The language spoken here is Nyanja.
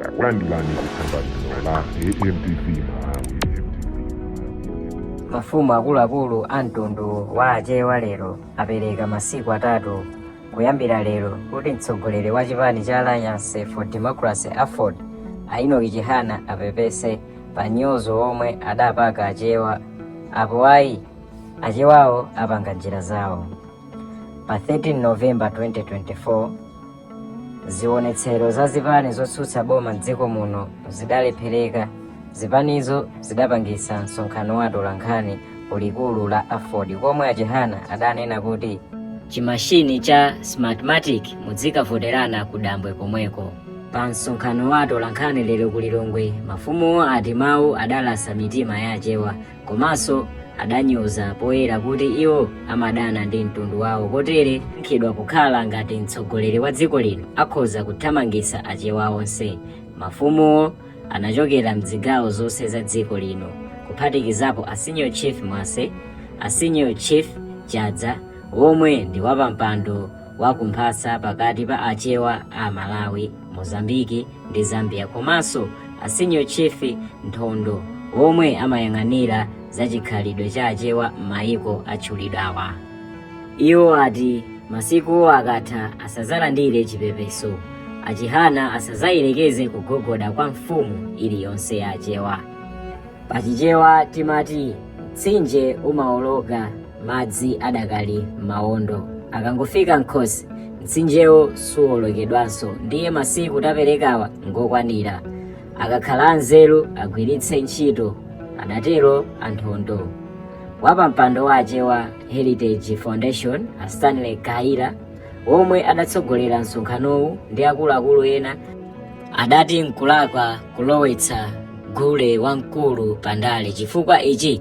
takulandirani ku tsamba lino la amtv malawi mafumu akuluakulu a mtundu wa achewa lero apereka masiku atatu kuyambira lero kuti mtsogoleri wa chipani cha alliance for democracy aford a enoki chihana apepese pa nyozo omwe adapaka achewa apo ayi achewawo apanga njira zawo pa 13 novemba 2024 Zionetsero za zipani zotsutsa boma m'dziko muno zidalephereka. Zipanizo zidapangitsa msonkhano wa atolankhani ku likulu la Aford komwe a Chihana adanena kuti chimashini cha Smartmatic mudzikavoterana ku dambwe komweko. Pa msonkhano wa atolankhani lero ku Lilongwe, mafumuwo ati mawu adalasa mitima ya Achewa komanso adanyoza poyera kuti iwo amadana ndi mtundu wawo kotere nkhidwa kukhala ngati mtsogoleri wa dziko lino akhoza kuthamangisa achewa onse mafumuwo anachokera mzigawo zonse za dziko lino kuphatikizapo a senior chief mwase a senior chief chadza omwe ndi wapampando wa ku mphasa pakati pa achewa a Malawi, Mozambique ndi Zambia komanso a Senior Chief Nthondo omwe amayang'anira za chikhalidwe cha achewa m'mayiko atchulidwawa. Iwo ati masikuwo akatha asazalandire chipepeso, achihana asazayelekeze kugogoda kwa mfumu iliyonse ya achewa. Pachichewa timati mtsinje umawoloka madzi adakali mmawondo akangofika mkhosi mtsinjewo suwolokedwanso ndiye masiku taperekawa ngokwanira akakhala anzeru agwiritse ntchito adatero a nthondo wapampando wa chewa heritage foundation a stanley khaila omwe adatsogolera msonkhanowu ndi akuluakulu ena adati nkulakwa kulowetsa gule wamkulu pandale chifukwa ichi